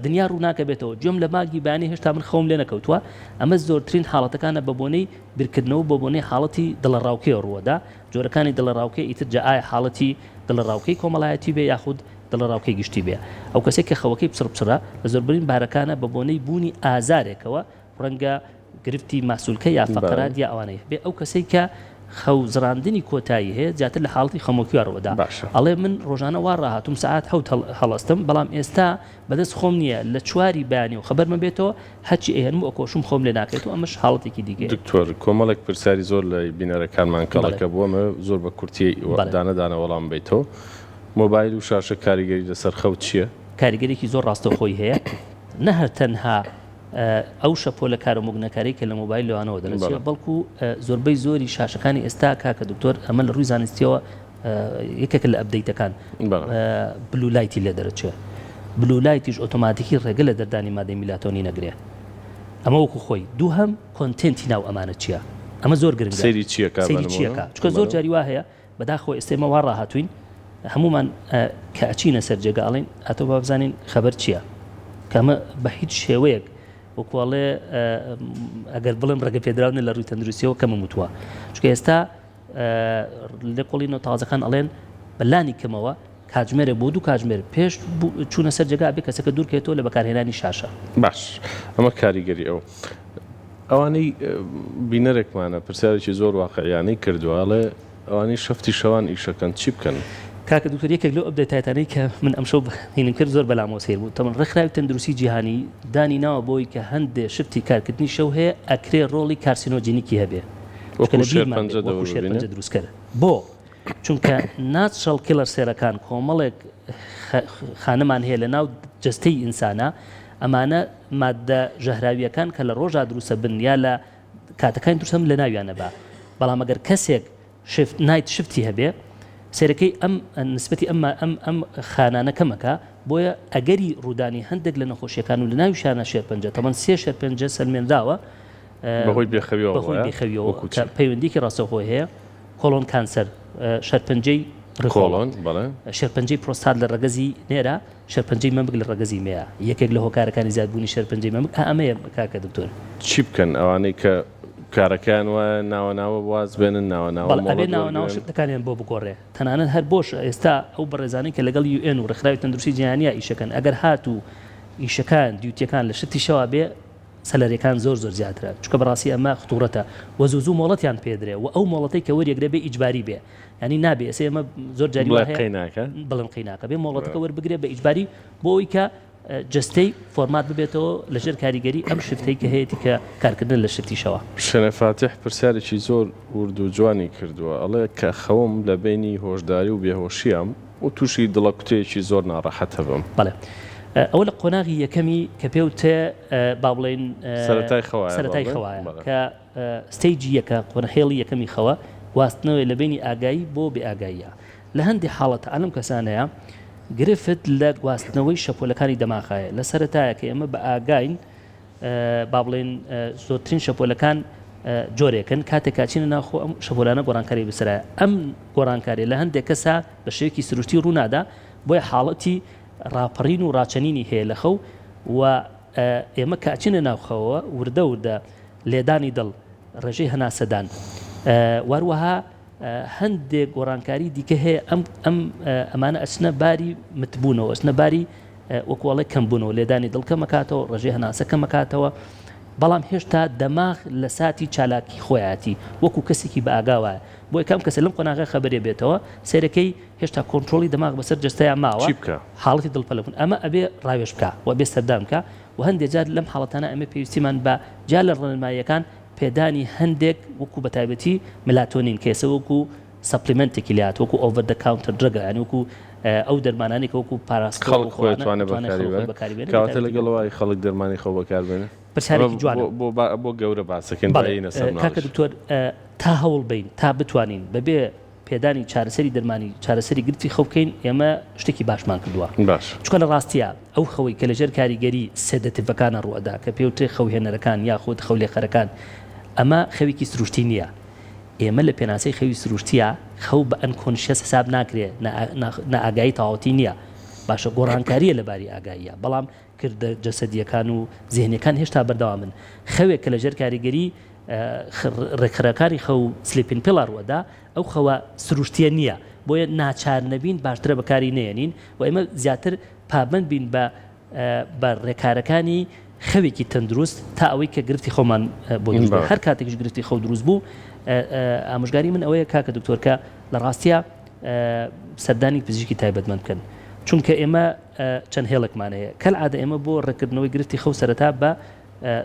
[SPEAKER 2] دنیا ڕووناکەبێتەوە گوێم لە بانگی بەیانی هێشتا من خەوم لێ نەکەوتووە ئەمە زۆرترین حاڵەتەکانە بە بۆنەی بیرکردنەوە بۆ بۆنەی حاڵەتی دڵەڕاوکێ ڕووەدا جۆرەکانی دڵەڕاوکێ ئیتر جا ئایا حاڵەتی دڵەڕاوکێی کۆمەڵایەتی بێ یاخود دڵەڕاوکێی گشتی بێ ئەو کەسێک کە خەوەکەی پچڕپچڕە لە زۆربرین بارەکانە بە بۆنەی بوونی ئازارێکەوە ڕەنگە گرفتی ماسولکە یا فەقەرادیە ئەوانەی هەبێ ئەو کەسەی کە خەو زڕاندنی کۆتایی هەیە زیاتر لە حاڵەتی خەمۆکیوە ڕوەدا ئەڵێ من ڕۆژانە وا ڕاهاتوم سەعات حەوت هەڵەستم بەڵام ئێستا بەدەست خۆم نییە لە چواری بەیانی و خەبەرمە بێتەوە هەرچی ئەیەنم و ئەکۆشم خۆم لێ ناکەێت و ئەمەش حاڵەتێکی دیگە دکتۆر کۆمەڵێک
[SPEAKER 1] پرسیاری زۆر لە بینەرەکانمان کەڵەکە بووەمە زۆر بە کورتی دانە دانە وەڵام بیتەوە مۆبایل و شاشە کاریگەری لەسەر خەوت چییە؟ کاریگەرێکی زۆر
[SPEAKER 2] ڕاستەوخۆی هەیە نەهەر تەنها. ئەو شەپۆلە کارو موگنەکارەی کە لە مۆبایل لەوانەوە دەرەچێ بەڵکو زۆربەی زۆری شاشەکانی ئێستا کاکە دکتۆر ئەمە لە ڕووی زانستیەوە یەکێکە لە ئەبدەیتەکان بلو لایتی لێ دەرەچێ بلو لایتیش ئۆتۆماتیکی ڕێگە لە دەردانی مادەی میلاتۆنی نەگرێ ئەمە وەکو خۆی دووهەم کۆنتێنتی ناو ئەمانە چیە ئەمە زۆر گرنگە سەیری چیەکە سەیری
[SPEAKER 1] چیەکە چکە زۆر جاری وا
[SPEAKER 2] هەیە بەداخەوە ئێستا ئێمە وا ڕاهاتووین هەموومان کە ئەچینە سەر جێگا ئەڵێین ئەتۆ با بزانین خەبەر چییە؟ کە ئەمە بە هیچ شێوەیەک وەکو ئەڵێ ئەگەر بڵێم ڕێگەپێدراو نیە لە ڕووی تەندروستیەوە کەمم وتووە، چونکە ئێستا لێکۆڵینەوە تازەکان ئەڵێن بە لانی کەمەوە کاتژمێرێک بۆ دوو کاتژمێر پێش چوونە سەر جێگا ئەبێ کەسەکە دوورکەوێتەوە لە بەکارهێنانی شاشە. باش
[SPEAKER 1] ئەمە کاریگەری ئەو ئەوانەی بینەرێکمانە پرسیارێکی زۆر واقعیانەی کردووە ئەڵێ ئەوانەی شەفتی شەوان ئیشەکەن چی بکەن؟ کاکە دکتۆر یەکێک
[SPEAKER 2] لەو ئەپدەیتاتانەی کە من ئەمشەو بەینم کرد زۆر بەلامەوە سەیر بوو تەمەن ڕێکخراوی تەندروستی جیهانی دانی ناوە بەوەی کە هەندێ شفتی کارکردنی شەو هەیە ئەکرێ ڕۆڵی کارسینۆجینیکی هەبێ وەکو شێرپەنجە دروستکەر بۆ چونکە ناتشرەڵ کیڵەر سێلەکان کۆمەڵێک خانمان هەیە لە ناو جەستەی ئینسانا ئەمانە ماددە ژەهراویەکان کە لە ڕۆژا دروسە بن یا لە کاتەکانی درسەم لە ناویانە بە بەڵام ئەگەر کەسێک شفت نایت شفتی هەبێ سێرەکەی ئەم نسبەتی ئەمما ئەم ئەم خانانە کەمەکە بۆیە ئەگەری ڕوودانی هەندێک لە نەخۆشیەکان و لە ناوی شانە شێرپەنجە تەمەن سێ شێرپەنجە سەلمێنراوە بەهۆی
[SPEAKER 1] بێخەویەوە بەهۆی بێخەویەوە پەیوەندیکی
[SPEAKER 2] ڕاستەوخۆی هەیە کۆڵۆن کانسەر، شێرپەنجەی ڕیخۆڵۆن، شێرپەنجەی پرۆستات لە ڕەگەزی نێرە، شێرپەنجەی مەمک لە ڕەگەزی مێیە. یەکێک لە هۆکارەکانی زیاد بوونی شێرپەنجەی مەمک ئا ئەمەیە کاکە دکتۆر. چی بکەن ئەوانەی
[SPEAKER 1] کە کارەکەیان وایە ناوە ناوە واز بێنن ناوە ناوە مۆڵەت وەرگرن؟ بەڵێ ئەبێ ناوە ناوە
[SPEAKER 2] شفتەکانیان بۆ بگۆڕێ تەنانەت هەر بۆش ئێستا ئەو بەڕێزانەی کە لەگەڵ یو ئێن و ڕێکخراوی تەندروستی جیهانیە ئیشەکەن ئەگەر هاتوو ئیشەکان دیوتیەکان لە شفتی شەوا بێ سەلەرەکان زۆر زۆر زیاترە چونکە بەڕاستی ئەمە خطورەتە وە زوو زوو مۆڵەتیان پێدرێ وە ئەو مۆڵەتەی کە وەریەگرێ بێ ئیجباری بێ یانی نابێ ئێسێ ئەمە زۆر جاری وا هەیە بڵێن قەیناکە بێ مۆڵەتەکە وەربگرێ بە ئیجباری بۆ ئەوی کە جستەی فۆرمات ببێتەوە لەژێر کاریگەری ئەم شفتەی کە هەیەی کە کارکردن لە شفتیشەوە. شەنە فاتیح
[SPEAKER 1] پرسیارێکی زۆر ورد و جوانی کردووە ئەڵێ کە خەوم لە بەینی هۆشداری و بێهۆشیام، و توشی دڵە کوتەیەکی زۆر ناڕەحەت ئەبم. بەڵێ
[SPEAKER 2] ئەوە لە قۆناغی یەکەمی کە پێو تە با بڵێین سەرەتای خەوایە سەرەتای خەوایە کە ستەیجی یەکە قۆنە هێڵی یەکەمی خەوە گواستنەوەی لە بینی ئاگایی بۆ بێ ئاگاییە لە هەندی حاڵەتە ئەلەم کەسانەیە گرفت لە گواستنەوەی شەپۆلەکانی دەماخایە لە سەرەتایە کە ئێمە بە ئاگاین با بڵێین زۆرترین شەپۆلەکان جۆرێکن کاتێک کاچینە ناوخۆ ئەم شەپۆلانە گۆڕانکاری بسرایە ئەم گۆڕانکاری لە هەندێک کەسا بە شێوکی سروشتی ڕوونادا بۆیە حاڵەتی ڕاپەڕین و ڕاچەنینی هەیە لە خەو و ئێمە کاچینە ناوخەوە وردە وردە لێدانی دڵ ڕێژەی هەناسەدان واروەها هەندێک گۆڕانکاری دیکە هەیە ئەم ئەم ئەمانە ئەچنە باری متبوونەوە ئەچنە باری وەکوڵێک کەم بوونەوە لێدانی دڵکەمەکاتەوە ڕژێ هەناسە کەمەکاتەوە بەڵام هێشتا دەماغ لە ساتی چالاکی خۆیاتی وەکو کەسێکی بە ئاگاوە بۆ یەکەم کەسە لەم قۆناغە خەبەرێ بێتەوە سێرەکەی هێشتا کۆنتترۆلی دەماغ بەسەر جستەیە ماوە حاڵی دڵپەلبوون ئەمە ئەبێ ڕاوێش بکە و بێ سەردان بکە و هەندێک جار لەم حاڵەتانە ئەمە پێویستیمان بە جا لە ڕێنماییەکان پێدانی هەندێک وەکو بەتایبەتی ملاتۆنین کە ئێستا وەکو سەپلیمێنتێکی لێ هاتووە وەکو ئۆڤەر دە کاونتەر درەگە یانی وەکو ئەو دەرمانانەی کە وەکو پاراستۆ خەڵک خۆی ئەتوانێ بەکاری
[SPEAKER 1] بەرێ بەکاری بێنێ بە کەواتە تایبەتی لەگەڵ ئەوەی خەڵک دەرمانی خۆ بەکار بێنێ پرسیارێکی جوانە. ئەمە
[SPEAKER 2] بۆ بۆ بۆ گەورە
[SPEAKER 1] باسەکەین با بەڵێ یەینە سەر کاکە مناڵیش. دکتۆر
[SPEAKER 2] تا هەوڵ بەین تا بتوانین بەبێ پێدانی چارەسەری دەرمانی چارەسەری گرفتی خەو بکەین، ئێمە شتێکی باشمان کردووە. باشە. چونکە لە ڕاستیا ئەو خەوەی کە لەژێر کاریگەری سێدەتیڤەکانە ڕووئەدا کە پێوترێ خەوهێنەرەکان یاخود خەولێخەرەکان، ئەمە خەوێکی سروشتی نییە. ئێمە لە پێناسەی خەوی سروشتیا خەو بە ئەنکۆنشیەس حساب ناکرێ، نائاگایی تەواوەتی نییە. باشە گۆڕانکارییە لە باری ئاگاییا، بەڵام کردە جەسەدییەکان و زێهنییەکان هێشتا بەردەوامن. خەوێک کە لەژێر کاریگەریی ڕێکخەرەکانی خەو و سلیپینگ پیڵ ڕووەدا، ئەو خەوە سروشتییە نییە، بۆیە ناچارنەبین باشترە بەکاری نەیەنین و ئێمە زیاتر پابەند بین بە بە ڕێکارەکانی خەوێکی تەندروست تا ئەوەی کە گرفتی خەومان بۆ دروست بێت. هەر کاتێکیش گرفتی خەو دروست بوو، ئامۆژگاریی من ئەوەیە کاکە دکتۆر کە لە ڕاستیا سەردانی پزیشکی تایبەتمەند بکەن، چونکە ئێمە چەند هێڵێکمان هەیە کەلعادە ئێمە بۆ ڕێککردنەوەی گرفتی خەو سەرەتا بە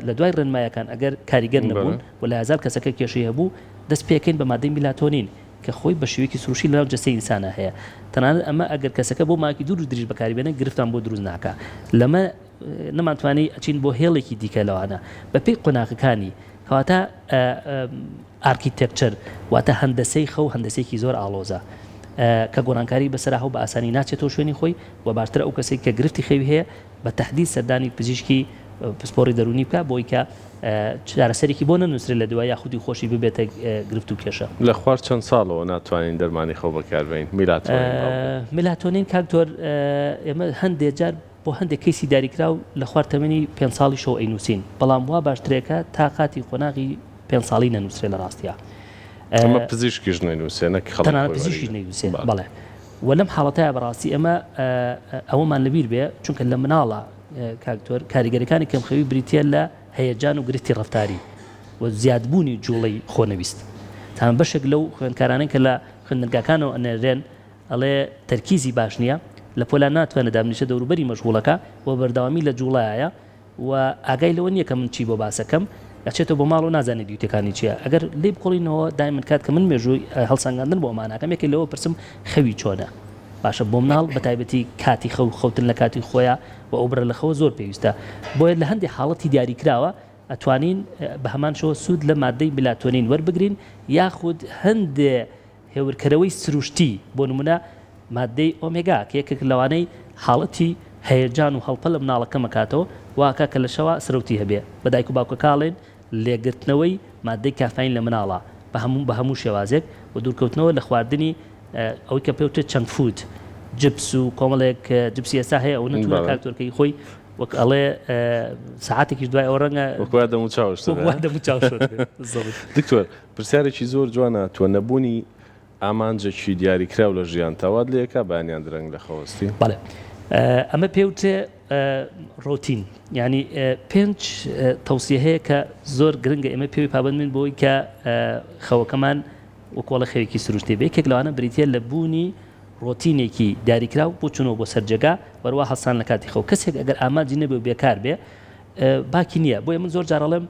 [SPEAKER 2] لە دوای ڕێنمایەکان ئەگەر کاریگەر نەبوون و لە هەزار کەسەکە کێشەی هەبوو دەست پێکەین بە مادەی میلاتۆنین کە خۆی بە شێوەیەکی سروشتی لەناو جەستەی ئینسانا هەیە تەنانەت ئەمە ئەگەر کەسەکە بۆ ماوەیەکی دوور و دریژ بەکاری بێنێت گرفتان بۆ دروست ناکا لەمە نەمانتوانی ئەچین بۆ هێڵێکی دیکە لەوانە بەپێی قۆناغەکانی کەواتە ئارکیتێکچەر واتە هەندەسەی خەو هەندەسەیەکی زۆر ئاڵۆزە کە گۆڕانکاری بەسەر هەو بە ئاسانی ناچێتەوە شوێنی خۆی و باشترە ئەو کەسەی کە گرفتی خەوی هەیە بە تەحدید سەردانی پزیشکی پسپۆڕی دەروونی بکات بۆی کە چارەسەرێکی بۆ نەنووسرێت لە دوا یا خودی خۆشی ببێتە گرفت و کێشە. لە خوار چەند ساڵەوە
[SPEAKER 1] ناتوانین دەرمانی خەو بەکاربەین میلاتۆنین.
[SPEAKER 2] میلاتۆنین کاک تۆر ئێمە هەندێ جار. بۆ هەندێک کەیسی داریکراو لە خوار تەمەنی پێنج ساڵیشەوە ئەینووسین، بەڵام وا باشترێکە تا قاتی قۆناغی پێنج ساڵی نەنووسرێ لە ڕاستیا.
[SPEAKER 1] تەنانەت پزیشکیش
[SPEAKER 2] نەینووسێ، بەڵێ. و لەم حاڵەتەیا بە ڕاستی ئێمە ئەوەمان لە بیر بێ، چونکە لە مناڵە کاک دکتۆر کاریگەریەکانی کەمخەوی بریتییە لە هەیەجان و گرفتی ڕەفتاری و زیادبوونی جووڵەی خۆنەویست. تەنانەت بەشێک لەو خوێندکارانەی کە لە خوێندنگاکانەوە ئەنێرێن، ئەڵێ تەرکیزی باش نییە، لە پۆلان ناتوانێ دابنیشێ دەوروبەری مەشغوڵەکە و بەردەوامی لە جووڵایە و ئاگای لەوە نییە کە من چی بۆ باسەکەم، ئەچێتەوە بۆ ماڵ و نازانێ دیوتەکانی چییە، ئەگەر لێی بکوڵینەوە دایمن کات کە من مێژووی هەڵسەنگاندن بۆ ئەماناکەم یەکێ لەوە پرسم خەوی چۆنە؟ باشە بۆ مناڵ بە تایبەتی کاتی خەو خەوتن لە کاتی خۆیا و ئەو بڕە لە خەوە زۆر پێویستە بۆیە لە هەندێ حاڵەتی دیاریکراوە ئەتوانین بە هەمان شێوە سوود لە ماددەی میلاتۆنین وەربگرین یاخود هەندێ هێورکەرەوەی سروشتی، بۆ نموونە ماددەی ئۆمێگا، کە یەکێکن لەوانەی حاڵەتی هەیەجان و هەڵپە لە منداڵە کەم ئەکاتەوە، وا ئەکا کە لە شەوا سرەوتی هەبێ. بە دایک و باوکەکە ئەڵێن لێگرتنەوەی ماددەی کافاین لە منداڵە بە هەموو بە هەموو شێوازێک و دوورکەوتنەوە لە خواردنی ئەوەی کە پێ وترێ چەنک فوود، جبس و کۆمەڵێک جبسی ئێستا هەیە ئەوە نەتوونە کاک تۆرکەیی خۆی وەک ئەڵێ سەعاتێکیش دوای ئەوە ڕەنگە وەک وا دەموچاوشت بێ.
[SPEAKER 1] دکتۆر پرسیارێکی زۆر جوانە تۆ نەبوونی ئامانجێکی دیاریکراو لە ژیانتا وات لێ ئەکا بەیانیان درەنگ لە خەو ئەستی؟ بەڵێ
[SPEAKER 2] ئەمە پێ وترێ ڕۆتین یانی پێنج تەوسیە هەیە کە زۆر گرنگە ئێمە پێوی پابەند بین بۆی کە خەوەکەمان وەکۆڵە خەوێکی سروشتێ بێ یەکێک لەوانە بریتە لە بوونی ڕۆتینێکی دیاریکراو بۆ چونەوە بۆ سەرجێگا وەروا هەڵسان لە کاتی خەو کەسێک ئەگەر ئامانجی نەبێ و بێکار بێ باکی نییە بۆیە من زۆر جار ئەڵێم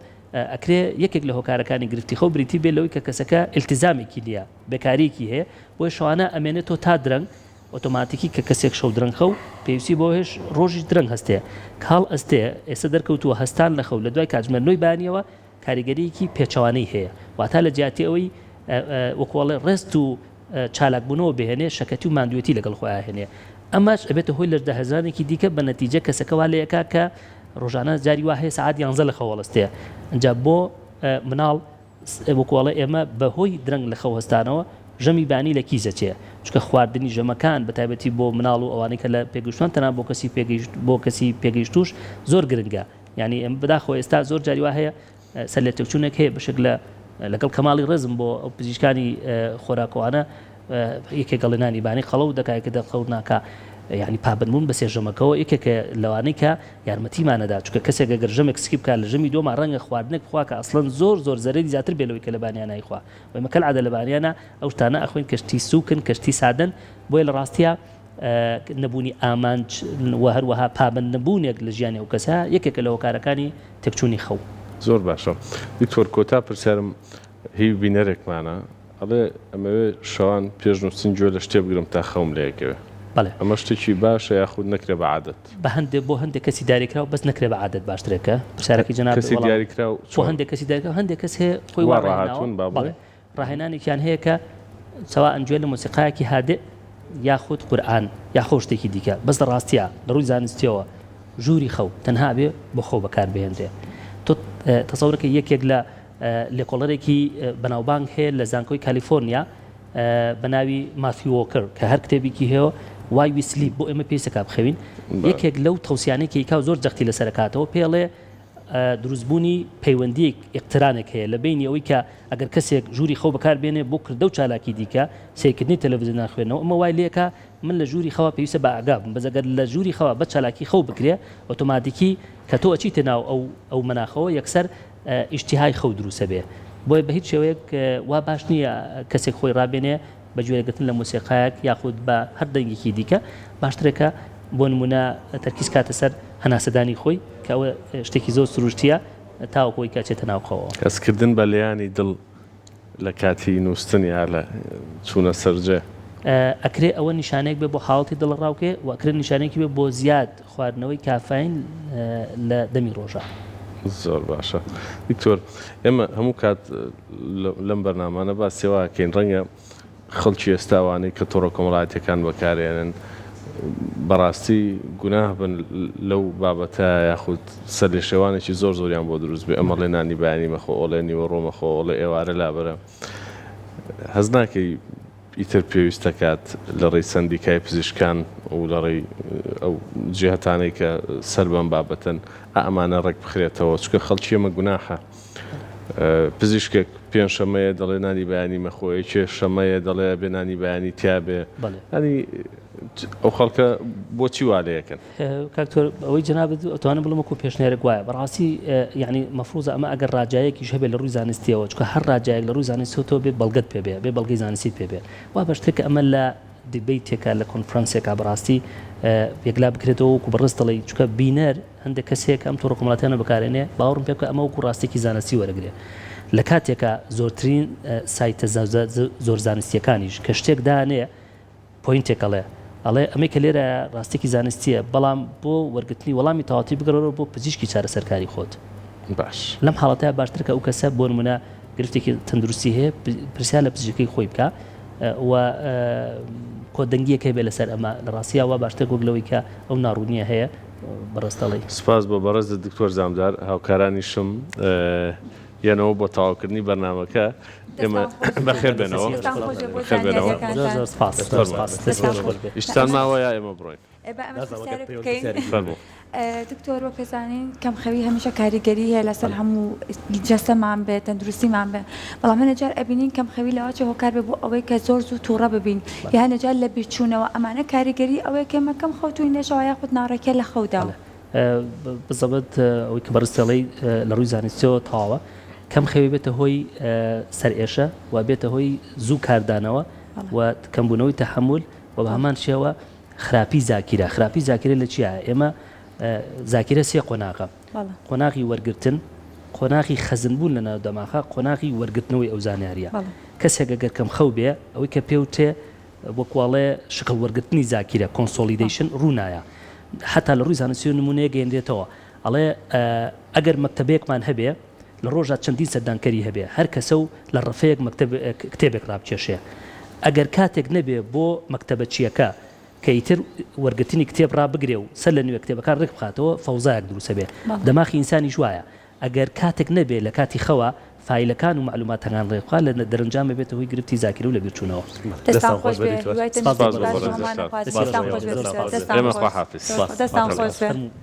[SPEAKER 2] ئەکرێ یەکێک لە هۆکارەکانی گرفتی خەو بریتی بێت لەوەی کە کەسەکە ئیلتیزامێکی نییە، بێکارییەکی هەیە، بۆیە شەوانە ئەمێنێتەوە تا درەنگ، ئۆتۆماتیکی کە کەسێک شەو درەنگ خەو پێویستی بەوە هەیە ڕۆژیش درەنگ هەستێ، کاڵ ئەستێ، ئێستا دەرکەوتووە هەستان لە خەو لە دوای کاتژمێر نۆی بەیانییەوە کاریگەرییەکی پێچەوانەی هەیە، واتا لە جیاتی ئەوەی وەکوو ئەڵێ ڕێست و. چالاکبوونەوە بهێنێ شەکەتی و ماندوێتی لەگەڵ خۆی ئاهێنێ ئەمەش ئەبێتە هۆی لەش دەهزانێکی دیکە بە نەتیجە کەسەکە وا لێ ئەکا کە ڕۆژانە جاری وا هەیە سەعات یانزە لە خەو هەڵستێ ئەجا بۆ مناڵ وەکو ئەڵێ ئێمە بە هۆی درەنگ لە خەو هەستانەوە ژەمی بانی لە کیس ئەچێ چونکە خواردنی ژەمەکان بە تایبەتی بۆ مناڵ و ئەوانەی کە لە پێگەشتووان تەنانەت بۆ کەسی پێگەیشت بۆ کەسی پێگەیشتووش زۆر گرنگە یانی بەداخەوە ئێستا زۆر جاری وا هەیە سەرلێتێکچوونێک هەیە بەشێک لە لەگەڵ کەماڵی ڕێزم بۆ پزیشکانی خۆراکوانە یەکێک گەڵێ نانی بانی قەڵەو دەکا یەکێ دەڵ قەڵەو ناکا یعنی پابەندبوون بە سێژەمەکەوە یەکێکە لەوانەی کە یارمەتیمان نەدا چونکە کەسێک ئەگەر ژەمێک سکی بکا لە ژەمی دووەما ڕەنگە خواردنێک بخوا کە ئەسڵەن زۆر زۆر زەرەری زیاتر بێ لەوەی کە لە بانیانا ئەیخوا وەیمە کەلعادە لە بانیانا ئەو شتانە ئەخۆین کە شتی سووکن کە شتی سادەن بۆیە لە ڕاستیا نەبوونی ئامانج و هەروەها پابەند نەبوونێک لە ژیانی ئەو کەسە یەکێکە لە هۆکارەکانی تێکچوونی خەو. زۆر باشە
[SPEAKER 1] دکتۆر کۆتا پرسیارم هی بینەرێکمانە ئەڵێ ئەمەوێ شەوان پێش نوستن گوێ لە شتێ بگرم تا خەوم لێکەوێ ئەمە شتێکی باشە یاخود نەکرێ بە عادەت. بە هەندێ بۆ هەندێ
[SPEAKER 2] کەسی داریکراو بەس نەکرێ بە عادەت باشترێکە پرسیارەکەی جەنابت وەڵام کەسی دیاریکراو چۆن
[SPEAKER 1] بۆ هەندێ کەسی داریکراو
[SPEAKER 2] هەندێ کەس هەیە خۆی وا ڕاهاتوون بەڵێ.
[SPEAKER 1] ڕاهێنانێکیان
[SPEAKER 2] هەیە کە سەوائەن گوێ لە مۆسیقایەکی هادئ یاخود قورئان یاخۆ شتێکی دیکە بەس لە ڕاستیا لە ڕووی زانستیەوە ژووری خەو تەنها ئەبێ بۆ خەو بەکار بهێنرێ تۆ تەسەورە کە یەکێک لە لێکۆڵەرێکی بەناوبانگ هەیە لە زانکۆی کالیفۆرنیا بە ناوی مافی وۆکر کە هەر کتێبێکی هەیە وای ویسلی بۆ ئێمە پێیسەکە بخەوین یەکێک لەو تەوسیانێکی کا زۆر جەختی لەسەرکاتەوە پێڵێ دروست بوونی پەیوەندییەک، اقترانێک، هەیە لە بەینی ئەوەی کە ئەگەر کەسێک ژووری خەو بەکار بێنێ بۆ کردە و چالاکی دیکە، سەیرکردنی تەلەڤزیۆن یان خوێندنەوە، ئەمە وای لێ ئەکا من لە ژووری خەوا پێویستە بە ئاگا بم، بەس ئەگەر لە ژووری خەوا بەس چالاکی خەو بکرێ ئۆتۆماتیکی کە تۆ ئەچیتە ناو ئەو ئەو مەناخەوە یەکسەر ئیشتیهای خەو دروست ئەبێ بۆیە بە هیچ شێوەیەک وا باش نییە کەسێک خۆی ڕابێنێ بە گوێگرتن لە مۆسیقایەک یاخود بە هەر دەنگێکی دیکە باشترە کە بۆ نموونە تەرکیز کاتە سەر هەناسەدانی خۆی کە ئەوە شتێکی زۆر سروشتییە تاوەکو ئەوی کە چێتە ناو خەوەوە. هەستکردن بە لێیانی
[SPEAKER 1] دڵ لە کاتی نووستن یا لە چوونە سەر جێ. ئەکرێ
[SPEAKER 2] ئەوە نیشانەیەک بێت بۆ حاڵەتی دڵەڕاوکێ و ئەکرێ نیشانەیەکی بێت بۆ زیاد. خواردنەوەی کافاین لە دەمی ڕۆژە. زۆر
[SPEAKER 1] باشە دکتۆر ئێمە هەموو کات لەم بەرنامانە باسی ئەوە ئەکەین ڕەنگە خەڵکی ئێستا وانەی کە تۆڕە کۆمەڵاتیەکان بەکارێنن بەڕاستی گوناه بن لەو بابەتە یاخود سەر لێ شێوانێکی زۆر زۆریان بۆ دروست بێ ئەمە ڵێ نانی بەیانی مەخۆ ئۆڵێ نیوە ڕۆ مەخۆ ئۆڵێ ئێوارە لابەرە هەز ناکەی ئیتر پێویست دەکات لە ڕێی سەندیکای پزیشکان و لە ڕێی ئەو جیهەتانەی کە سەر بەم بابەتەن ئا ئەمانە ڕێک بخرێتەوە، چونکە خەڵکی ئێمە گوناحە پزیشکێک پێنجشەمەیە دەڵێ نانی بەیانی مەخۆ، یەکێ شەمەیە دەڵێ ئەبێ نانی بەیانی تیابێ، یانی ئەو خەڵکە بۆچی وا لێ ئەکەن؟ کاک تۆر
[SPEAKER 2] ئەوەی جنابت ئەتوانم بڵم وەکو پێشنێرە گوایە بەڕاستی یعنی مەفروزە ئەمە ئەگەر ڕاجایەکیش هەبێت لە ڕووی زانستیەوە چکە هەر ڕاجایەک لە ڕووی زانستەوە تۆ بێ بەڵگەت پێ بێ بێ بەڵگەی زانستی پێ بێ وا بە شتێک ئەمە لە دبی تێکا لە کۆنفرانسێکا بەڕاستی یەکلا بکرێتەوە وکو بەڕست دەڵی چکە بینەر هەندێک کەسێک ئەم تۆڕ کۆمەڵاتیانە بەکارێنێ باوەڕم پێ بکە ئەمە وکو ڕاستێکی زانستی وەرەگرێ لە کاتێکا زۆرترین سایتە زۆر زانستیەکانیش کە شتێک دانێ پۆینتێک ئەڵێ ئەڵێ ئەمەی کە لێرایە ڕاستیەکی زانستیە بەڵام بۆ وەرگرتنی وەڵامی تەواوتی بگەڕێرەوە بۆ پزیشکی چارەسەرکاری خۆت باش. لەم
[SPEAKER 1] حاڵەتە باشترە
[SPEAKER 2] کە ئەو کەسە بۆ نمونە گرفتێکی تەندروستی هەیە پرسیار لە پزیشکی خۆی بکا و کۆدەنگیەک هەبێ لەسەر ئەمە لە ڕاستیا وا باشترە وەک لەوەی کە ئەو ناڕوونیە هەیە بەڕێز دەڵێی. سپاس بۆ بەڕێزت
[SPEAKER 1] دکتۆر زامدار هاوکارانیشم یەنەوە بۆ تەواوکردنی بەرنامەکە ئێمە بەخێر بێنەوە ئیشتان ماوە یا ئێمە بڕۆین
[SPEAKER 3] دکتۆر وە پێزانین کەم خەوی هەمیشە کاریگەری هەیە لەسەر هەموو جەستەمان بێت تەندروستیمان بێ بەڵام هەنەجار ئەبینین کەم خەوی لەواچە هۆکار بێ بۆ ئەوەی کە زۆر زوو تووڕە ببین یا نەجار لە بیرچوونەوە ئەمانە کاریگەری ئەوەیە کەمە کەم خەوتوین لەشەوە یاخود ناڕێکە لە خەودا.
[SPEAKER 2] بزەبت ئەوەی کە بەڕێز تێڵەی لە ڕووی زانستیەوە تەواوە کەم خەوی بێتە هۆی سەرئێشە و بێتە هۆی زوو کاردانەوە و کەمبوونەوەی تەحمل و بە هەمان شێوە خراپی زاکیرە خراپی زاکرە لە چیە ئێمە زاکرە سێ قۆناغە قۆناغی وەرگتن قۆناغی خەزنبوون لە ناو دەماخە قۆناغی وەرگتنەوەی ئەو زانیاریە کەسێکە گەرکەم خەو بێ ئەوەی کە پێوتێ وەکو ئەڵێ شکڵ وەرگرتنی زاکیرە، Consolidation، ڕوونایە. حەتا لە ڕووی زانستییەوە نموونەیەک گەیەنرێتەوە. ئەڵێ ئەگەر مەکتەبەیەکمان هەبێ، لە ڕۆژا چەندین سەردانکەری هەبێ، هەر کەسە و لە ڕەفەیەک مەکتەب کتێبێک ڕابکێشێ. ئەگەر کاتێک نەبێ بۆ مەکتەبەچییەکە کە ئیتر وەرگرتنی کتێب ڕابگرێ و سەر لە نوێ کتێبەکان ڕێک بخاتەوە، فەوزایەک دروست ئەبێ. دەماخی ئینسانیش وایە. ئەگەر کاتێک نەبێت لە کاتی خەوا فایلەکان و مەعلوماتەکان ڕێک بخات لە دەرەنجام ئەبێتە هۆی گرفتی زاکیرە و لەبیرچوونەوە.